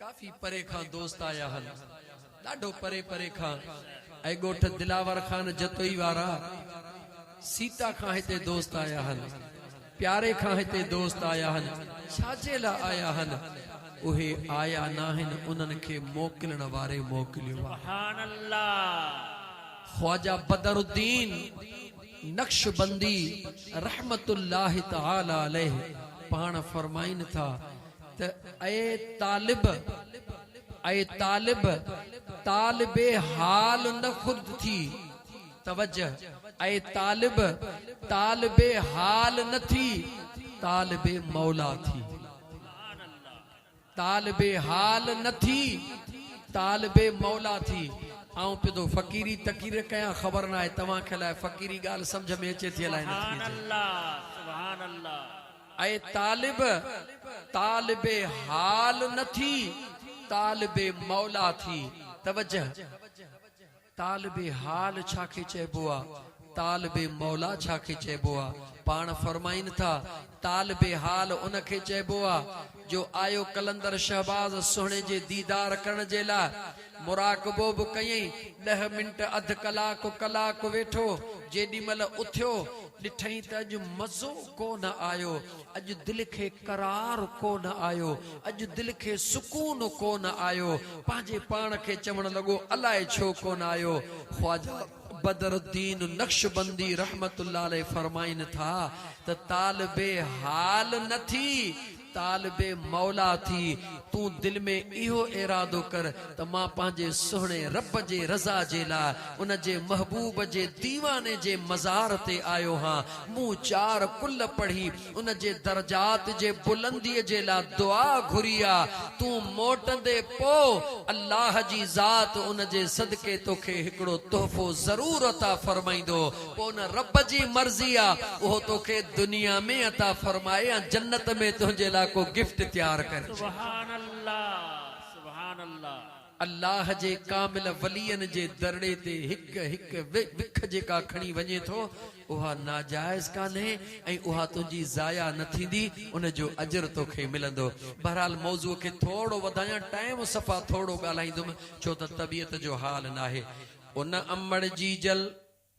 ڪافي پري کان دوست آيا هن. ڏاڍو پري پري کان. اي ڳوٺ دلاور خان جتوئي وارا، سيتا کان هتي دوست آيا هن. پياري کان هتي دوست آيا هن. ڇا جي لا آيا هن؟ اهي آيا ناهن انهن کي موڪلڻ واري موڪليو آهي. خواجه بدرالدين. نقشبندي رحمة الله تعالٰي عليه پاڻ فرمائين ٿا ته اي طالب! اي طالب! طالب حال نه خود ٿي. توجه! اي طالب! طالب حال نه ٿي، طالب مولا ٿي. طالب حال نه ٿي طالب مولا ٿي آئون پدو فقيري تقرير ڪيان خبر ناهي توهان کي الاهي فقيري ڳالهه سمجهه ۾ اچي ٿي الاهي نٿي اچي اي طالب طالب حال نه ٿي طالب مولا ٿي توجه. طالب حال ڇا کي چئبو آ؟ طالب مولا ڇا کي چئبو آ؟ پاڻ فرمائين ٿا، طالب حال ان کي چئبو آ، جو آيو قلندر شهباز سهڻي جي ديدار ڪرڻ جي لاء، مراقبو به ڪيئين، ڏهه منٽ اڌ ڪلاڪ ڪلاڪ ويٺو، جيڏيمهل اٿيو، ڏٺئين ته اڄ مزو ڪو نه آيو، اڄ دل کي قرار ڪونه آيو، اڄ دل کي سڪون ڪونه آيو، پنهنجي پاڻ کي چوڻ لڳو الاء ڇو ڪونه آيو. خواجه بدر الدين نقشبندي رحمة الله عليه فرمائين ٿا ته طالب حال نه ٿي، طالب مولا ٿي، تون دل ۾ اهو ارادو ڪر، ته مان پنهنجي سهڻي رب جي رضا جي لاء ان جي محبوب جي ديواني جي مزار تي آيو هان، مون چار ڪل پڙهي ان جي درجات جي بلندي جي لاء دعا گهري آ، تون موٽندي پوء الله جي ذات ان جي صدقي توکي هڪڙو تحفو ضرور عطا فرمائيندو، پوء ان رب جي مرضي آ اهو توکي دنيا ۾ عطا فرمائي يا جنت ۾ تنهنجي لاء ڪو گفٽ تيار ڪرجي. سبحان الله. الله جي ڪامل ولين جي درڙي تي هڪ هڪ وک جيڪا کڻي وڃين ٿو اها ناجائز ڪانهي ۽ اها تنهنجي ضايع نه ٿيندي ان جو اجر توکي ملندو بهرحال موضوع کي ٿورڙو وڌايان ٽائيم صفا ٿورڙو ڳالهائيندم ڇو ته طبيعت جو حال ناهي ان امڙ جي جل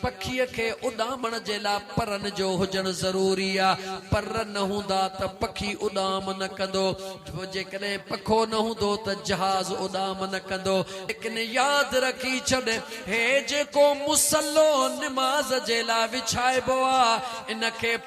پکيء کي اڏامڻ جي لاء پرن جو هجڻ ضروري آ. پر نه هوندا ته پکي اڏام نه ڪندو. پوء جيڪڏهن پکو نه هوندو ته جهاز اڏام نه ڪندو. ليڪن ياد رکي ڇڏ، هي جيڪو مصلو نماز جي لاء وڇائبو آ، ان کي.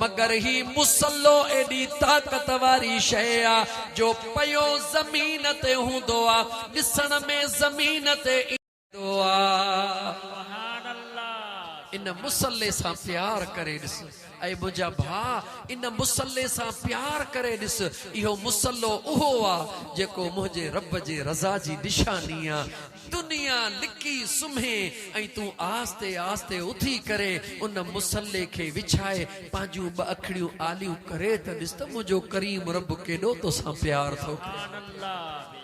مگر هي مصلو ايڏي طاقت واري شيء آ جو پيو زمين تي هوندو آ ڏسڻ ۾ زمين تي ايندو آ. ان مصلي سان پيار ڪري ڏس. اي منهنجا ڀاء ان مصلي سان پيار ڪري ڏس اهو مصلو اهو آ جيڪو منهنجي رب جي رضا جي نشاني آ. دنيا لڪي سمهي ۽ تون آهستي آهستي اٿي ڪري ان مصلي کي وڇائي پنهنجون ٻه اکڙيون آليون ڪري ته ڏس ته منهنجو ڪريم رب ڪيڏو توسان پيار ٿو ڪري.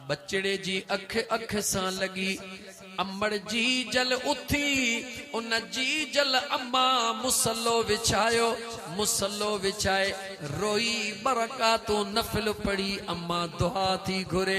ٻچڙي جي اک اک سان لڳي امڙ جي جل اٿي ان جي جل اما مصلو وڇايو مصلو وڇائي روئي ٻه رڪعتون نفل پڙهي اما دعا ٿي گهري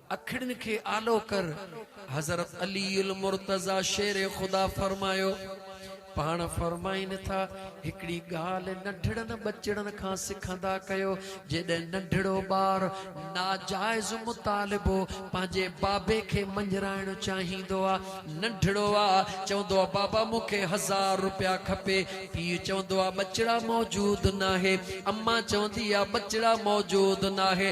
اکڙين کي آلو ڪر. حضرت علي المرتضيٰ شير خدا فرمايو، پاڻ فرمائين ٿا، هڪڙي ڳالهه ننڍڙن ٻچڙن کان سکندا ڪيو، جيڏهن ننڍڙو ٻار ناجائز مطالبو پنهنجي بابي کي مڃرائڻ چاهيندو آ، ننڍڙو آ چوندو آ بابا مون کي هزار روپيا کپي، پيء چوندو آ ٻچڙا موجود ناهي، امان چوندي آ ٻچڙا موجود ناهي،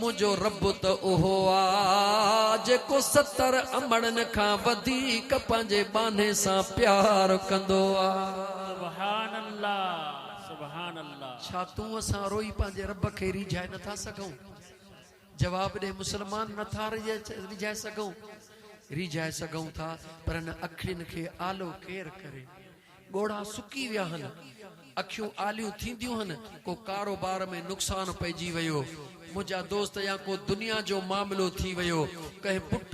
منهنجو رب ته اهو آ، جيڪو ستر امڙن کان وڌيڪ پنهنجي ٻانهي سان پيار ڪندو آ. سبحان الله سبحان الله. ڇا تون اسان روئي پنهنجي رب کي ريجهائي نه ٿا سگهون؟ جواب ڏي مسلمان نه ٿا ريجهائي سگهون؟ ريجهائي سگهون ٿا پر ان اکڙين کي آلو ڪير ڪري؟ ڳوڙها سڪي ويا هن، اکيون آليون ٿينديون هن، ڪو ڪاروبار ۾ نقصان پئجي ويو، منهنجا دوست يا ڪو دنيا جو معاملو ٿي ويو، ڪنهن پٽ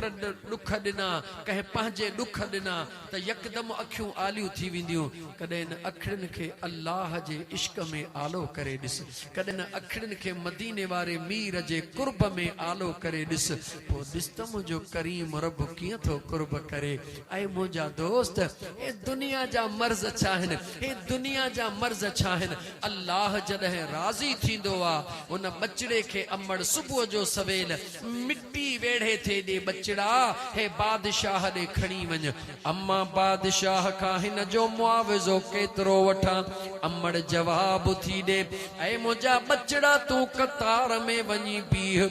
ڏک ڏنا، ڪنهن پنهنجي ڏک ڏنا ته يڪدم اکيون آليون ٿي وينديون. ڪڏهن ان اکڙين کي الله جي عشق ۾ آلو ڪري ڏس، ڪڏهن ان اکڙين کي مديني واري مير جي قرب ۾ آلو ڪري ڏس، پوء ڏس ته منهنجو ڪريم رب ڪيئن ٿو قرب ڪري. اي منهنجا دوست! هي دنيا جا مرض ڇا آهن؟ هي دنيا جا مرض ڇا آهن؟ الله جڏهن راضي ٿيندو آ، هن ٻچڙي کي امڙ صبح جو سويل مٽي ويڙهي ٿي ڏي، ٻچڙا! هي بادشاهه ڏي کڻي وڃ. امان بادشاهه کان هن جو معاوضو ڪيترو وٺان؟ امڙ جواب ٿي ڏي، اي منهنجا ٻچڙا! تون قطار ۾ وڃي بيهه.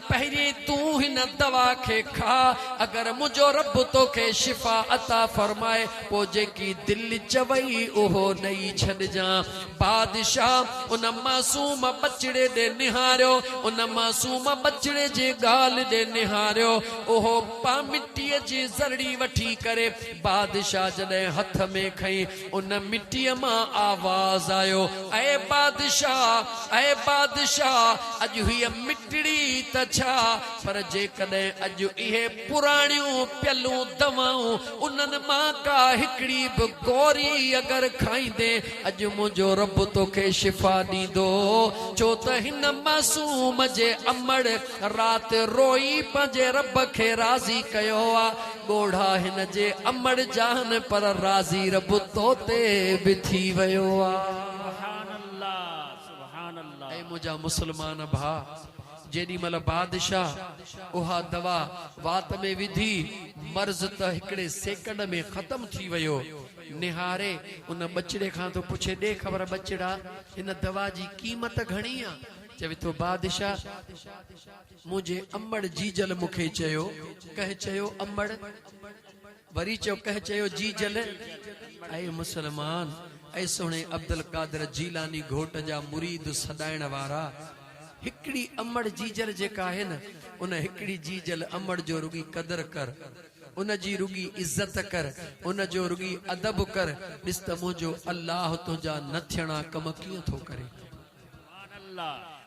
پهرين تون هن دوا کي کاء، اگر منهنجو رب توکي شفا عطا فرمائي، پوء جيڪي دل چوئي اهو ڏئي ڇڏجان. بادشاهه ان معصوم ٻچڙي ڏي نهاريو. ان معصوم ٻچڙي جي ڳالهه ڏي نهاريو. اهو پ مٽيء جي ذرڙي وٺي ڪري بادشاهه جڏهن هٿ ۾ کنئي، ان مٽيء مان آواز آيو، اي بادشاهه! اي بادشاهه! اڄ هيء مٽڙي ئي ته ڇا، پر جيڪڏهن اڄ اهي پراڻيون پيلون دوائون، انهن مان ڪا هڪڙي به گوري اگر کائيندين، اڄ منهنجو رب توکي شفا ڏيندو، ڇو ته هن معصوم جي امڙ رات روئي پنهنجي رب کي راضي ڪيو آ. ڳوڙها هن جي امڙ جاهن پر راضي رب تو تي به ٿي ويو آ. سبحان الله سبحان الله. اي منهنجا مسلمان ڀا جيڏي مهل بادشاهه اها دوا وات ۾ وڌي مرض ته هڪڙي سيڪنڊ ۾ ختم ٿي ويو نهاري ان ٻچڙي کان ٿو پڇي ڏي خبر ٻچڙا هن دوا جي قيمت گهڻي آ چوي ٿو بادشاهه منهنجي امڙ جيجل مون کي چيو. ڪنهن چيو امڙ؟ وري چيو ڪنهن چيو جيجل؟ اي مسلمان! اي سهڻي عبدالقادر جيلاني گهوٽ جا مريد سڏائڻ وارا! هڪڙي امڙ جيجل جيڪا آهي نه، ان هڪڙي جيجل امڙ جو رڳي قدر ڪر. ان جي رڳي عزت ڪر. ان جو رڳي ادب ڪر. ڏس ته منهنجو الله تنهنجا نه ٿيڻا ڪم ڪيئن ٿو ڪري.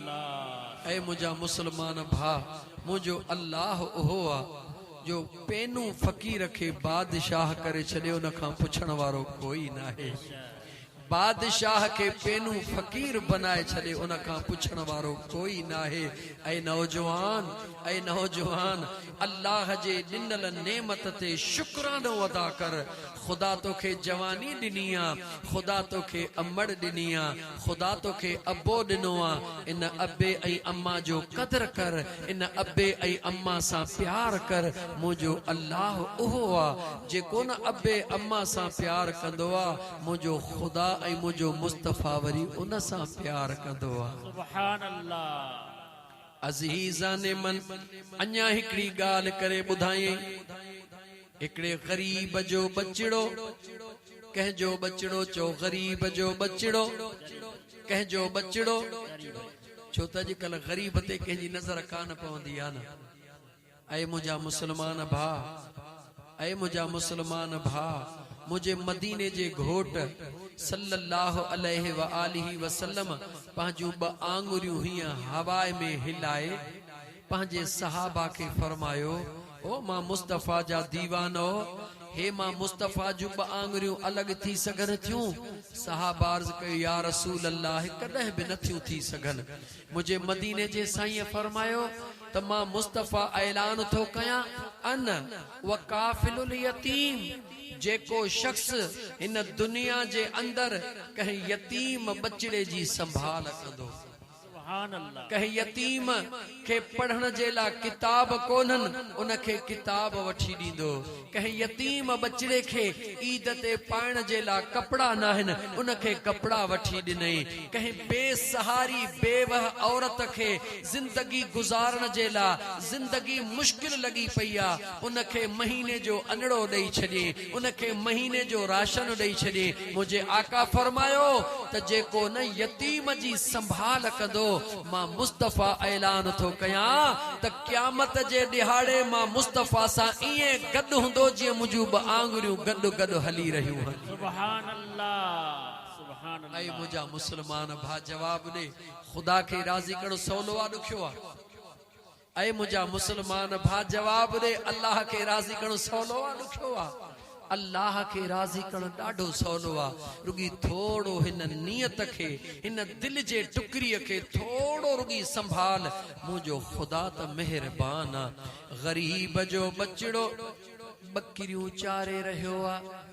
اي منهنجا مسلمان ڀاء! منهنجو الله اهو آ، جو پينون فقير کي بادشاهه ڪري ڇڏي ان کان پڇڻ وارو ڪوئي ناهي. بادشاهه کي پينون فقير بنائي ڇڏي ان کان پڇڻ وارو ڪوئي ناهي. اي نوجوان! اي نوجوان! الله جي ڏنل نعمت تي شڪرانو ادا ڪر. خدا توکي جواني ڏني آ، خدا توکي امڙ ڏني آ، خدا توکي ابو ڏنو آ، ان ابي ۽ اما جو قدر ڪر، ان ابي ۽ اما سان پيار ڪر، منهنجو الله اهو آ، جيڪو نه ابي اما سان پيار ڪندو آ، منهنجو خدا ۽ منهنجو مصطفيٰ وري ان سان پيار ڪندو آ. سبحان الله. عزيزان من! اڃا هڪڙي ڳالهه ڪري ٻڌايئين. هڪڙي غريب جو ٻچڙو ڪنهن جو ٻچڙو چئو غريب جو ٻچڙو ڪنهن جو ٻچڙو ڇو ته اڄڪلهه غريب تي ڪنهن جي نظر ڪانه پوندي آ نه اي منهنجا مسلمان ڀاء اي منهنجا مسلمان ڀاء منهنجي مديني جي گهوٽ صلّي اللّٰه عليه واٰله وسلّم پنهنجون ٻه آڱريون هيئن هواء ۾ هلائي پنهنجي صحابه کي فرمايو، او مان مصطفيٰ جا ديوانؤ! هي مان مصطفيٰ جون ٻه آڱريون الڳ ٿي سگهن ٿيون؟ صحابه عرض ڪيو، يا رسول الله! ڪڏهن به نه ٿيون ٿي سگهن. منهنجي مديني جي سائينء فرمايو ته مان مصطفيٰ اعلان ٿو ڪيان، انا وڪافل اليتيم، جيڪو شخص هن دنيا جي اندر ڪنهن يتيم ٻچڙي جي سنڀال ڪندو. ڪنهن يتيم کي پڙهڻ جي لاء ڪتاب ڪونهن، ان کي ڪتاب وٺي ڏيندو. ڪنهن يتيم ٻچڙي کي عيد تي پائڻ جي لاء ڪپڙا ناهن، ان کي ڪپڙا وٺي ڏنئي. ڪنهن بي سهاري بيوه عورت کي زندگي گذارڻ جي لاء زندگي مشڪل لڳي پئي آ، ان کي مهيني جو انڙو ڏئي ڇڏيئي. ان کي مهيني جو راشن ڏئي ڇڏي، منهنجي آقا فرمايو ته جيڪو نه يتيم جي سنڀال ڪندو مان مصطفيٰ اعلان ٿو ڪيان ته قيامت جي ڏهاڙي مان مصطفيٰ سان ائين گڏ هوندو جيئن منهنجون ٻه آڱريون گڏ گڏ هلي رهيون هن. سبحان الله سبحان الله. اي منهنجا مسلمان ڀا جواب ڏي خدا کي راضي ڪرڻ سولو آ ڏکيو آ؟ اي منهنجا مسلمان ڀا جواب ڏي الله کي راضي ڪرڻ سولو آ ڏکيو آ؟ الله کي راضي ڪرڻ ڏاڍو سولو آ رڳي ٿورڙو هن نيت کي هن دل جي ٽڪري کي ٿورڙو رڳي سنڀال منهنجو خدا ته مهربان آ غريب جو ٻچڙو ٻڪريون چاري رهيو آ.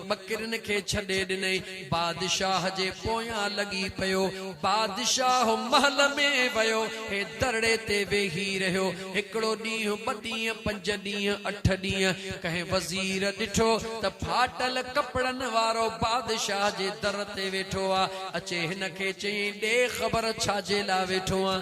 ٻڪرين کي ڇڏي ڏنئي، بادشاهه جي پويان لڳي پيو. بادشاهه محل ۾ ويو، هي درڙي تي ويهي رهيو. هڪڙو ڏينهن، ٻه ڏينهن، پنج ڏينهن، اٺ ڏينهن، ڪنهن وزير ڏٺو ته ڦاٽل ڪپڙن وارو بادشاهه جي در تي ويٺو آ، اچي هن کي چيائين، ڏي خبر ڇا جي لاء ويٺو آن؟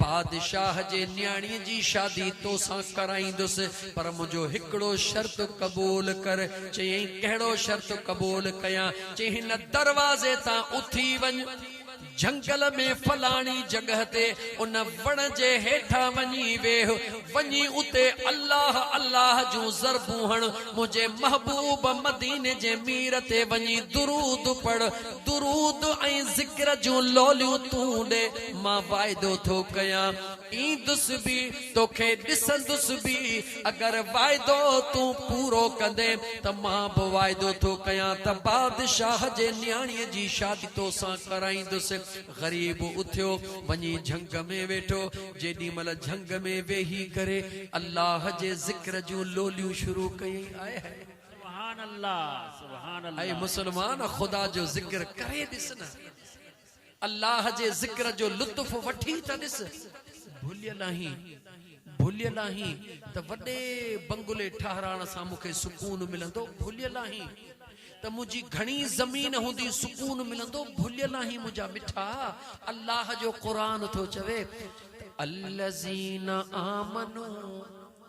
بادشاهه جي نياڻيء جي شادي تو سان ڪرائيندس، پر منهنجو هڪڙو شرط قبول ڪر. چيائين، ڪهڙو شرط قبول ڪيان؟ چيائين، هن دروازي تان اٿي وڃ، جهنگل ۾ فلاڻي جڳهه تي ان وڻ جي هيٺان وڃي ويهه، وڃي اتي الله الله جون ضربون هڻ، منهنجي محبوب مديني جي مير تي وڃي درود پڙهه، درود ۽ ذڪر جون لوليون تون ڏي مان واعدو ٿو ڪيان ايندس به توکي ڏسندس به اگر واعدو تون پورو ڪندين ته مان به واعدو ٿو ڪيان ته بادشاهه جي نياڻي جي شادي توسان ڪرائيندس غريب اٿيو وڃي جهنگ ۾ ويٺو جيڏي مهل جهنگ ۾ ويهي ڪري الله جي ذڪر جون لوليون شروع ڪيائين آئي هائي اي مسلمان خدا جو ذڪر ڪري ڏس نه الله جي ذڪر جو لطف وٺي ته ڏس ڀليل آهين ڀليل آهين ته وڏي بنگلي ٺهرائڻ سان مون کي سڪون ملندو ڀليل آهين ته منهنجي گهڻي زمين هوندي سڪون ملندو ڀليل آهين منهنجا مٺا الله جو قرآن ٿو چوي الذين آمنوا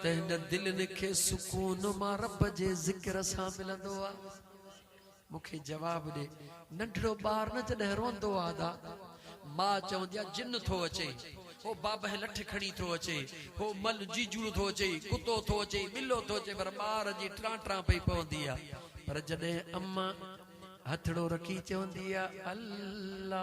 ته هن دلين کي سڪون مان رب جي ذڪر سان ملندو آ مون کي جواب ڏي ننڍڙو ٻار نه جڏهن روئندو آ ادا ماء چوندي آ جن ٿو اچي هو بابهه لٺ کڻي ٿو اچي هو مل جيجوڙ ٿو اچي ڪتو ٿو اچي ٻلو ٿو اچي پر ٻار جي ٽران ٽران پئي پوندي آ پر جڏهن اما هٿڙو رکي چوندي آ الله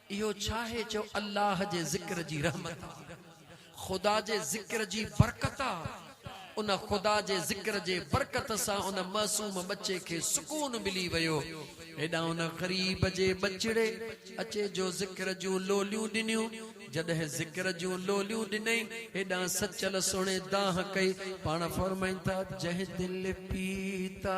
اهو ڇاهي جو الله جي ذڪر جي رحمت آ، خدا جي ذڪر جي برڪت آ، ان خدا جي ذڪر جي برڪت سان ان معصوم ٻچي کي سڪون ملي ويو، هيڏانهن ان غريب جي ٻچڙي اچي جو ذڪر جون لوليون ڏنيون، جڏهن ذڪر جون لوليون ڏنئي، هيڏانهن سچل سهڻي دانهن ڪئي، پاڻ فرمائين ٿا، جنهن دل پيتا.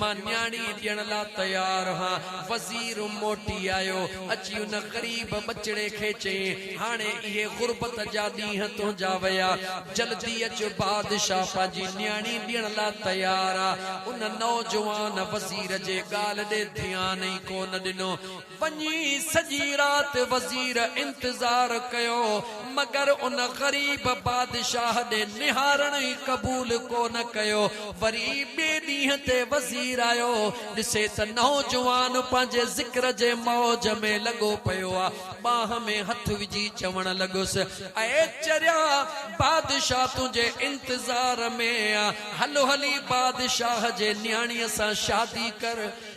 مان نياڻي ڏيڻ لا تيار هان. وزير موٽي آيو. اچي ان غريب ٻچڙي کي چيائين، هاڻي اهي غربت جا ڏينهن تنهنجا ويا. جلدي اچ بادشاهه پنهنجي نياڻي ڏيڻ لا تيار آ. ان نوجوان وزير جي ڳالهه ڏي ڌيان ئي ڪونه ڏنو. وڃي سڄي رات وزير انتظار ڪيو، مگر ان غريب بادشاهه ڏي نهارڻ ئي قبول ڪو نه ڪيو. وري ٻئي ڏينهن تي وزير آيو، ڏسي ته نوجوان پنهنجي ذڪر جي موج ۾ لڳو پيو آ. ٻانهن ۾ هٿ وجهي چوڻ لڳس، اي چريا! بادشاهه تنهنجي انتظار ۾ آ، هل هلي بادشاهه جي نياڻيء سان شادي ڪر.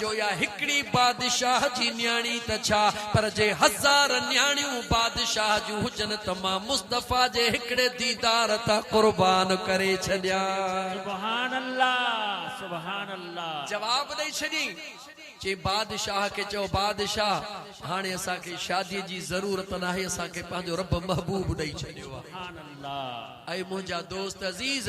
جو اها هڪڙي بادشاهه جي نياڻي ته ڇا پر جي هزار نياڻيون بادشاهه جون هجن ته مان مصطفيٰ جي هڪڙي ديدار تان قربان ڪري ڇڏيان. سبحان الله سبحان الله. جواب ڏئي ڇڏيئين. چيائين بادشاهه کي چئو بادشاهه هاڻي اسان کي شاديء جي ضرورت ناهي اسان کي پنهنجو رب محبوب ڏئي ڇڏيو آهي. سبحان الله. اي منهنجا دوست عزيز!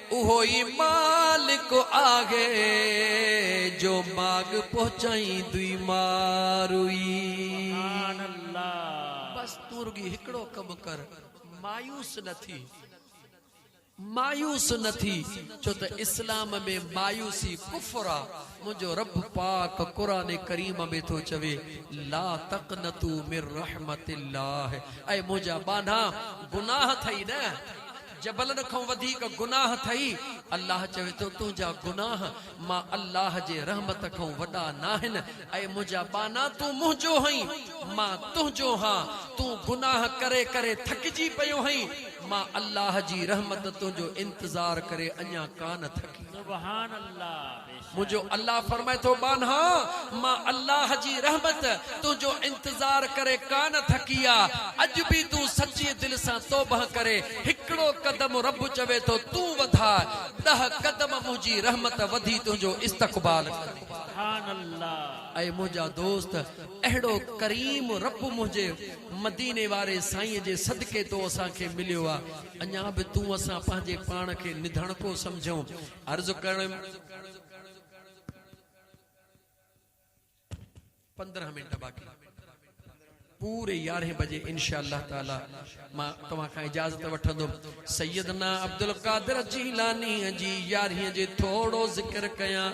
اهو ئي مالڪ آهي جو ماڳ پهچائيندي ماروئي. بس تون رڳي هڪڙو ڪم ڪر مايوس نه ٿي مايوس نه ٿي ڇو ته اسلام ۾ مايوسي ڪفر آ منهنجو رب پاڪ قرآن ڪريم ۾ ٿو چوي لا تقنطو من رحمت الله اي منهنجا ٻانها گناهه ٿئي نه جبلن کان وڌيڪ گناهه اٿئي، الله چوي ٿو تنهنجا گناهه مان الله جي رحمت کان وڏا ناهن، اي منهنجا ٻانها تون منهنجو هئين، مان تنهنجو ها، تون گناهه ڪري ڪري ٿڪجي پيو هئين، مان الله جي رحمت تنهنجو انتظار ڪري اڃا ڪانه ٿڪي. سبحان الله! منهنجو الله فرمائي ٿو ٻانها! مان الله جي رحمت تنهنجو انتظار ڪري ڪانه ٿڪي آ، اڄ به تون سچي دل سان توبهه ڪري هڪڙو قدم رب چوي ٿو تون وڌاء، ڏهه قدم منهنجي رحمت وڌي تنهنجو استقبال ڪندي. اي منهنجا دوست! اهڙو ڪريم رب منهنجي مديني واري سائين جي صدقي تو اسان کي مليو آ، اڃا به تون اسان پنهنجي پاڻ کي نڌڻڪو سمجهون، عرض ڪرڻ ويم. پندرهن منٽ باقي. پوري يارهين بجي انشاء الله تعالي مان توهان کان اجازت وٺندم. سيدنا عبدالقادر جيلانيء جي يارهين جي ٿورو ذڪر ڪيان.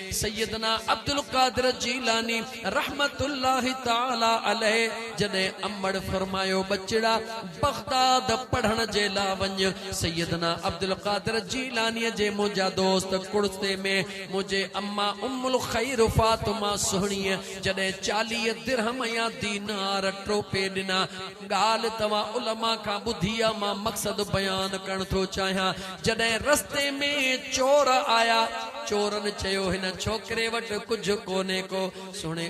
سيدنا عبدالقادر جيلاني رحمة الله تعالٰي عليه جڏهن امڙ فرمايو ٻچڙا بغداد پڙهڻ جي لا وڃ سيدنا عبدالقادر جيلاني جي منهنجا دوست ڪڙتي ۾ منهنجي اما ام الخير فاطمه سهڻيء جڏهن چاليهه درهم يا دينار ٽوپي ڏنا ڳالهه توهان علماء کان ٻڌي آ مان مقصد بيان ڪرڻ ٿو چاهيان جڏهن رستي ۾ چور آيا چورن چيو هن ڇوڪري وٽ ڪجهه ڪونهي ڪو سهڻي